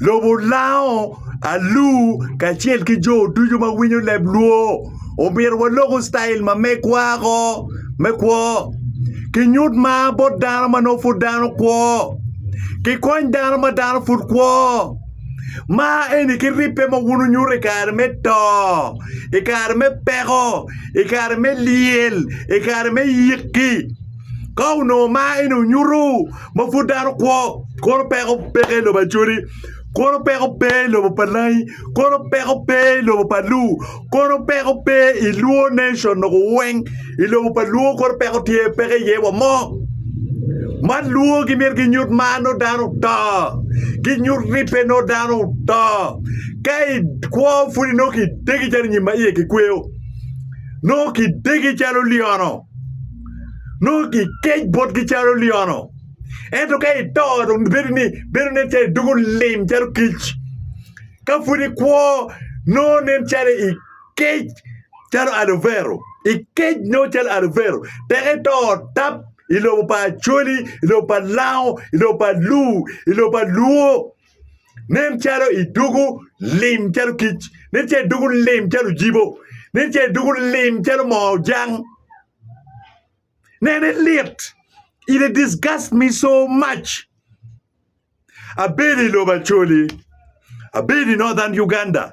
Lobo lango, alu, kacel ki jo ducu ma winyo leb Luo, omyero waloku citail ma megwa ko me kwo, kinyut mar bot dano ma nongo pud dano kwo, kikony dano ma dano pud kwo. Mar eni ki ribbe ma wun wunyuto i kare me to, i kare me peko, i kare me lyel, i kare me yikki, ka onongo mar eni onyutu, ma pud dano kwo, koro peko peke i lobo Acholi, koro peko pe i lobo pa Langi, koro peko pe i lobo pa Luo, koro peko pe i Luo nation noko weng, i lobo pa Luo koro peko tye peke iye wa mo. Ma Luo gimito ginyut mar nongo dano oto, ginyut ribbe nongo dano oto. Ka ikwo pud inongo kidegi calo nyim ma iye kikweyo, nongo kidegi calo lyono. nongo kikec botgi calo lyono. Ento ka ito dong bedo ni bedo nen calo idwogo lim calo kic. Ka pud ikwo nongo nen calo ikec calo aluvero, ikec nongo calo aluvero tek ito tap i lobo pa Acholi, i lobo pa Lango, i lobo pa Lur, i lobo pa Luo. Nen calo idugu lim calo kic. Nen calo idugu lim calo ojibo. Nen calo idugu lim calo moo ojang. Nene lit. It disgust me so much. Abedo i lobo Acholi. Abedo i Northern Uganda.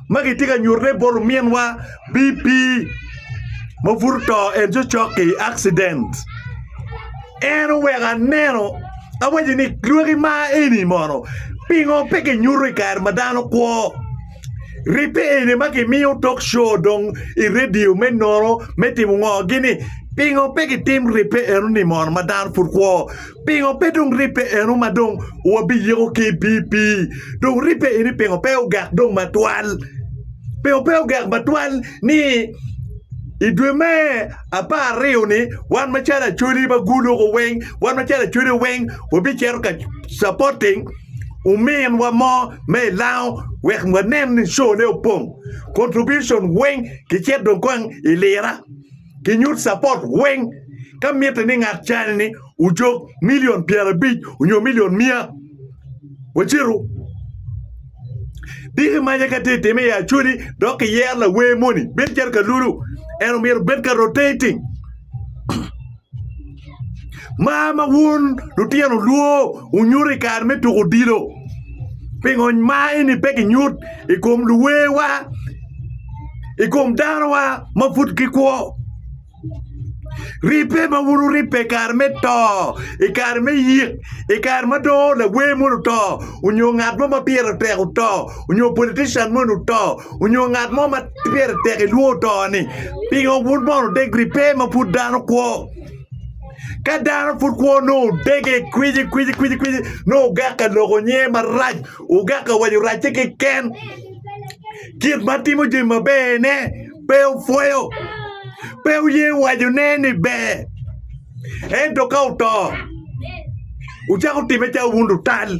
ma kitye ka nyutte bot ominwa BP ma pud oto en cocok ki i accident en oweko aneno awaco ni lwaki ma eni mono pingo pe kinyuto i kare ma dano kwo ribbe eni ma kimiyo tok co dong i redio me nono me timo ngo gini pingo pe kitim ribbe enoni mono ma dano pud kwo. Pingo pe dong ribbe eno ma dong wabiyiko ki i pii pii? Dong ribbe eni pingo pe ogak dong matwal? Pingo pe ogak matwal ni i dwe me apar-aryo-ni wan macalo Acholi ma guluko weng, wan macalo Acholi weng wabicito ka capoting ominwa mo me i Lango wek wanen ni cone opong? Contribution weng kicit dong kong i lira. ginyut capot weng ka mitte ni ngat cani-ni ojok milion pyerabic onyo milion miya wacitu dik imaca ka tye time i acholi dok kiyero lawer moni bedo calo kalulu en omyero obed ka rotating Mar ma wun lutino olwo wunyuto i kare me tuko odilo, pingo mar eni pe kinyut i kom luwewa, i kom danowa ma pud gikwo? Ribbe ma wun wuribbe i kare me to, i kare me yik, i kare ma dong lawer moni oto onyo ngat mo ma pire tek oto onyo politician moni oto onyo ngat mo ma Pire tek ilwongo to ni pingo wun mono degri pe ma pud dano kwo. Ka dano pud kwo nongo dege kwici kwici kwici kwici nongo ogak ka loko nyinge marac, ogak ka waco racce keken. Kit ma timo jami maberne pe opwoyo, pe oye wacone ni ber. Ento ka oto wucako time calo wun lutal.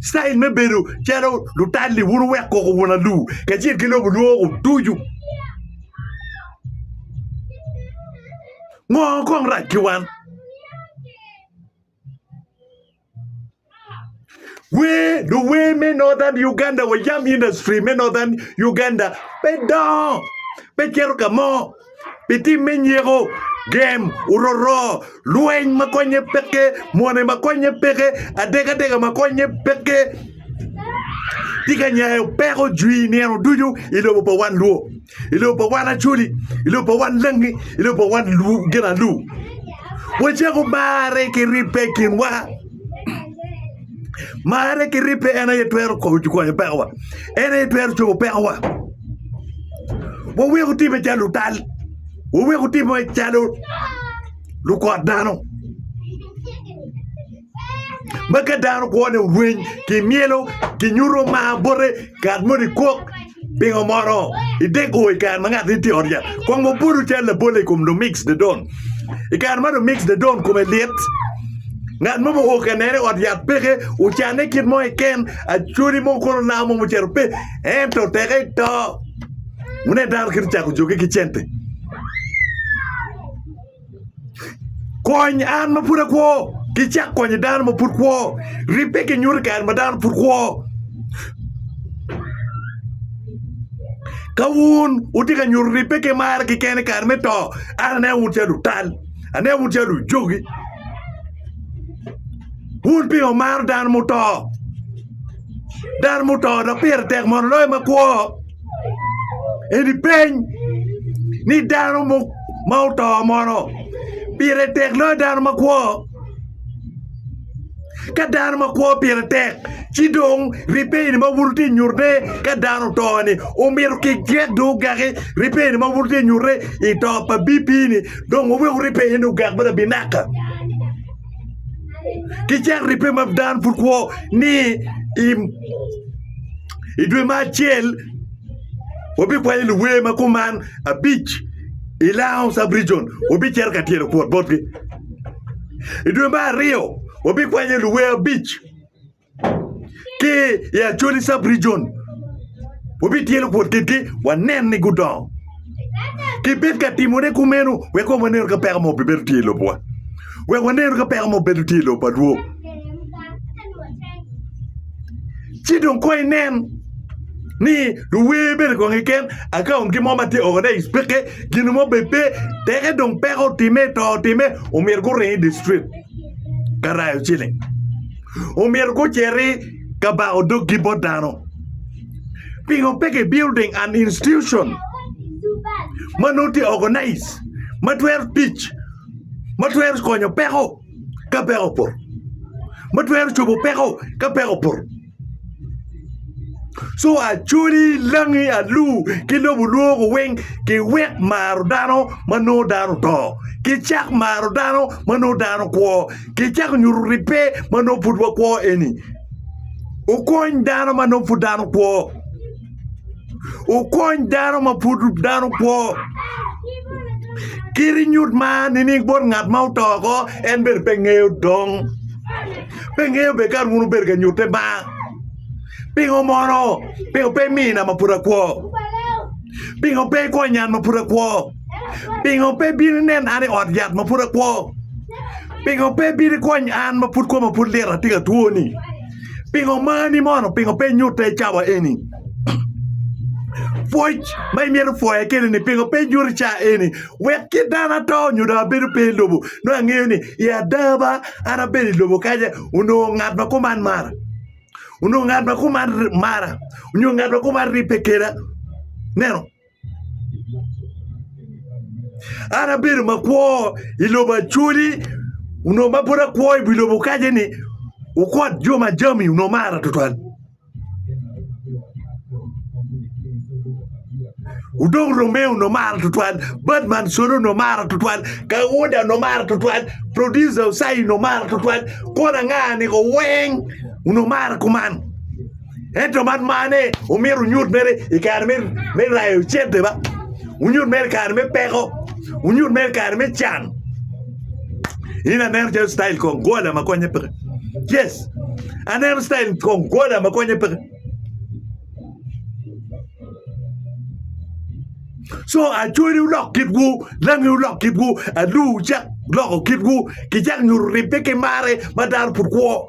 citayil me bedo calo lutal-li wun wuweko koko wun alur kacel ki lobo lwoko ducu. Ngo kong rac ki wan? Wer luwer me Northern Uganda wa yam industry me Northern Uganda pe dongo pe cito ka mo. pi tim me nyeko, gem, ororo, lweny ma konnye peke, mone ma konnye peke, adekadeka ma konnye peke. Tika nyayo peko jwi nino ducu i lobo pa wan Luo, i lobo pa wan Acholi, i lobo pa wan Langi, i lobo pa wan Lu gin alu? Wacako marre ki ribbe i kinwa. Marre ki ribbe en aye twero konyo pekowa, en aye twero cobo pekowa. Wawek otimme calo lutal, wawek otimme calo lukot dano ma ka dano kwone orweny kimyelo kinyuto mar bote ngat moni kok. Pingo mono idego i kare ma ngat-ni tye i ot yat? Kong wabutu cal labolle i kom Domingos Dedon. I kare ma Domingos Dedon kome lit, ngat mo muko ka nene i ot yat peke, ocanne kit mo keken, acholi mo kono lao mo mucito pe. Ento teke to, wune dano kit ocako joge ki cente. Kony an ma pud akwo ki cak konyo dano ma pud kwo. Ribbe ki nyuto i kare ma dano pud kwo. Ka wun wutye ka nyuto ribbe ki marre keken i kare me to, an aneno wun calo lutal, aneno wun calo lujogi. Wun pingo wumaro dano muto? Dano muto dok pire tek mondo oloyo ma kwo. Eni peny ni dano ma oto mono pire tek loyo dano makwo? Ka dano makwo pire tek ci dong ribbe eni ma wun wutye ka nyutte ka dano oto-ni omyero kigek dong ogeki ribbe eni ma wun wutye ka nyutte i to pa BP-ni dong wuwek wuribbe ni ogek bot abi naka ki cen ribbe ma dano pud kwo ni i I dwe ma acel wabikwanyo luwer ma kuman abic i Lounge Sub Region, wabicito ka tyelo kwot botgi. I dwe ma aryo wabikwanyo luwer abic ki i Acholi Sub Region, wabityelo kwot kitgi wanen ni gudongo. kibed ka timone kumeno wek kong wanenu ka peko mogo bibedo tye i lobwa, wek wanenu ka peko mogo bibedo tye i lobo pa Rwot. Ci dong kono inen ni luwer bene kong keken akaungi mo ma tye oko dong icweke gin mo bene pe, teke dong peko otimme, to otimme omyero guring i distrik ka rayo ciling, omyero guciti ka bako doggi bot dano. Pingo pe ki building an institution ma nongo tye organize ma twero tic ma twero konyo peko ka peko opoto ma twero cobo peko ka peko opoto co acoli, langi, alur ki lobo lwogo weng ki wek maro dano ma nongo dano oto ki cak maro dano ma nongo dano kwo ki cako nyuto ribbe ma nongo pud wakwo eni. Okony dano ma nongo pud dano kwo. Okony dano ma pud dano kwo. Kit nyut ma nining bot ngat ma oto oko en bene pe ngeyo dong. Pe ngeyo bene kara wun wubedo ka nyutte ma. Pingo mono? Pingo pe imiyo na ma pud akwo? Pingo pe ikonyo an ma pud akwo? Pingo pe ibino ineno an i ot yat ma pud akwo? Pingo pe ibino ikwony an ma pud koma pud lit atye ka twoni? Pingo omani mono? Pingo pe inyuta i cawa eni? Pwoc ma imito pwoya kwede-ni pingo pe inyuta i cawa eni? Wek kit dano ato nyo dong abedo pe i lobo nongo angeyo ni i ada ba an abedo i lobo kanya onongo ngat ma kuman mara, onongo ngat ma kuman mara, onyo ngat ma kuman ribbe kweda. Ineno? An abedo makwo i lobo Acholi onongo ma pud akwo i wi lobo kacce-ni wukot jo ma jami onongo mara tutwal Odong Romeo onongo mara tutwal Badman Solo onongo mara tutwal Kauda onongo mara tutwal Produca Ucayi onongo mara tutwal kona anga niko weng onongo mara kuman. Ento man marne omyero wunyut mere i kare me rayo cente ba, wunyut mere i kare me peko, wunyut mere i kare me can. In aneno calo citail kong gola ma konye peke. Yes, aneno citail kong gola ma konye peke. Co acwali wulok kitwu, langi wulok kitwu, alur wucak loko kitwu, kicak nyuto ribbe ki marre ma dano pud kwo.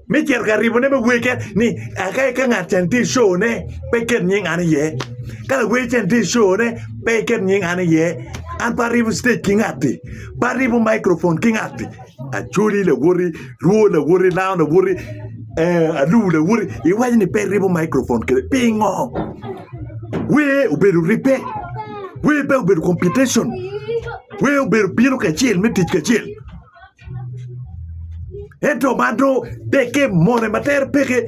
me cito ka ribone me wege ni aka ika ngat can tye icone pe iket nying an iye ka lawer can tye icone pe iket nying an iye an pe aribo citec ki ngatti pe aribo microfon ki ngatti acoli lawoti rwo lawoti lao lawoti alum lawoti iwaco ni pe iribo microfon kede pingo wer obedo ribbe wer pe obedo competition wer obedo bino kacel me tic kacel. Ento man dong dekke mone ma tere peke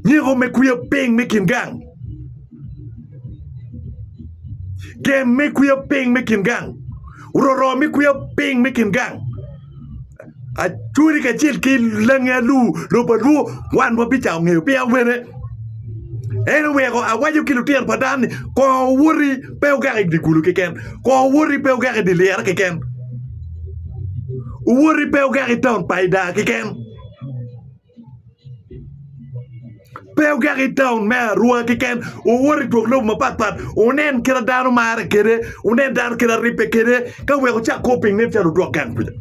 nyeko me kwiyo piny me kin gang gem me kwiyo piny me kin gang roro me kwiyo piny me kin gang. Acwodi kacel ki langi alur lobo alur wan wabicayo ngeyo pi awene. En oweko awaco ki lutino pa dano ni kong owoti pe ogak i dye kulu keken, kong owoti pe ogak i dye lyere keken, owoti pe ogak i taun pa Ida keken. Pe ogak i taun me arwa keken, owoto i twok lobo mapat pat, wunen kite dano marre kwede, wunen dano kite aribbe kwede, ka wek wucak kor piny nen calo odwok gang kuca.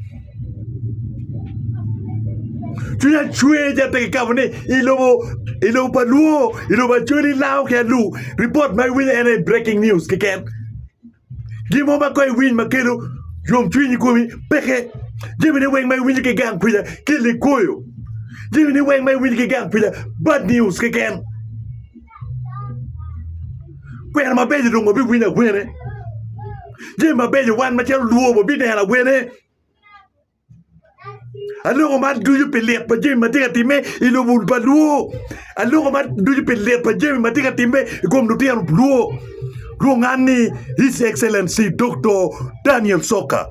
Cwiny acweja pe kikabo ni i lobo i lobo pa Luo, i lobo Acholi, Lao ki Alu, ripot ma iwinyo en aye breaking news keken. Gin mo ma kong iwiny ma kelo yomcwiny i komi peke. Jemine weng ma iwinyo ki gang kwija ki likoyo. Jemine weng ma iwinyo ki gang kwija bad news keken. Kwena mabeco dong wabiwinyo awene. Jemi mabeco wan macalo lwor wabineno awene. Aloko man ducu pi lit pa jami ma tye ka timme i lobo pa Luo. Aloko man ducu pi lit pa jami ma tye ka timme i kom lutino Luo. Lwongan ni His Excellency Doktor Daniel Soka.